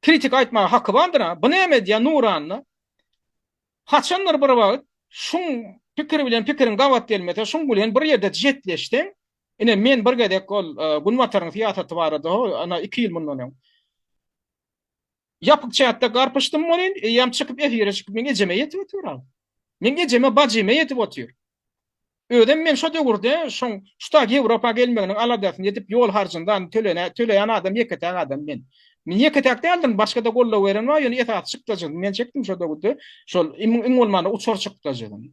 Kritik aýtmaga haky bardyr a. Bu näme edýär Nuranda? Haçandyr bir wagt şuň pikiri bilen pikiriň gabat gelmese, şuň bilen bir ýerde jetleşseň, ine men bir gezek ol Günbataryň syýasaty barada ho ana iki ýyl mundan öň ýapyk çätde garpyşdym welin, eýýäm çykyp efire çykyp meň ejeme ýetip otyr a. Meň ejeme bajyma ýetip otyr. Özem men şo döwürde şoň şuta Ýewropa gelmeginiň aladasyny edip ýol harjyny zany tölene töleýän adam ýeketäk adam men. Men ýeketäk däldim başgada goldaw beren bar ýöne esasy çykdajyny men çekdim şo döwürde şol iň bolmanda uçar çykdajyny.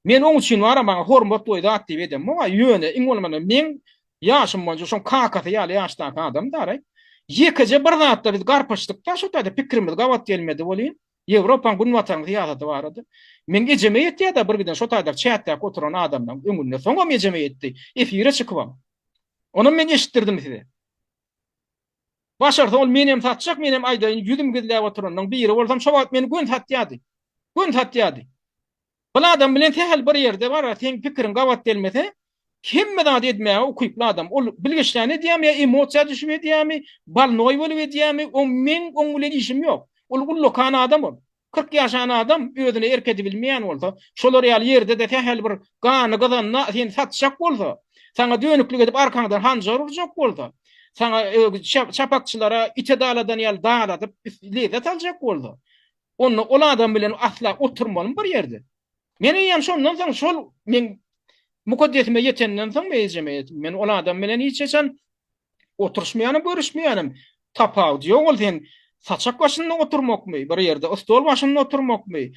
Men oň üçin bara maňa hormat goý zat diýip edem boga ýöne iň bolmanda meň ýaşym boýunça şoň kakasy ýaly ýaşdaky adam dara. Ýekeje bir zatda biz garpyşdykda şo taýda pikrimiz gabat gelmedi welin Ýewropaň günbataryň syýasaty barada. Meň ejeme ýetýär-de bir giden şo taýda çäkdäki oturan adamlaň öňünde. Soňam ejeme ýetdi. Efire çykybam. Onam men eşitdirdim size. Başarsa ol menem satjak, menem aýdaýyn, ýüzüm gizläp oturanlaň biri bolsam şo wagt meni gön satýardy. Gön satýardy. Ol adam bilen sähel bir ýerde barar, seň pikiriň gabat gelmese, hemme zady edmäge ukyply adam. Ol bilgeşlän edýärmi ýa emosiýa düşüp edýärmi, balnoý bolup edýärmi, o meň oň bilen işim ýok. Ol ullakan adam ol. Kyrk ýaşan adam özüne erk edibilmeýän bolsa, şolar ýaly ýerde-de sähel bir gany gyzanda seni satjak bolsa, saňa dönüklik edip arkaňdan hanjar urjak bolsa, saňa çapakçylara ite daladan ýaly daladyp lezzet aljak bolsa, Onda ol adam bilen asla oturmalym bir ýerde. Men eýýäm şondan soň şol men mukaddesime ýetenden soň men ejeme ýetdim. Men ol adam bilen hiç haçan oturyşmaýanym, görüşmeýänim. Tapawudy ýok ol sen saçak başynda oturmakmy, bir ýerde stol başynda oturmakmy,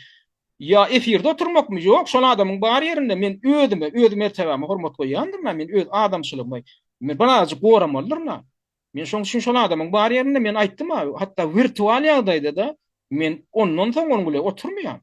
ýa efirde oturmakmy? Ýok, şol adamyň bar ýerinde men özüme, öz mertebäme hormat goýýandyryn, men öz adamçylygymy men birazajyk goramalydyryn. Men şoň üçin şol adamyň bar ýerinde men aýtdym-a, hatda wirtual ýagdaýda-da men ondan soň onuň bilen oturmaýan.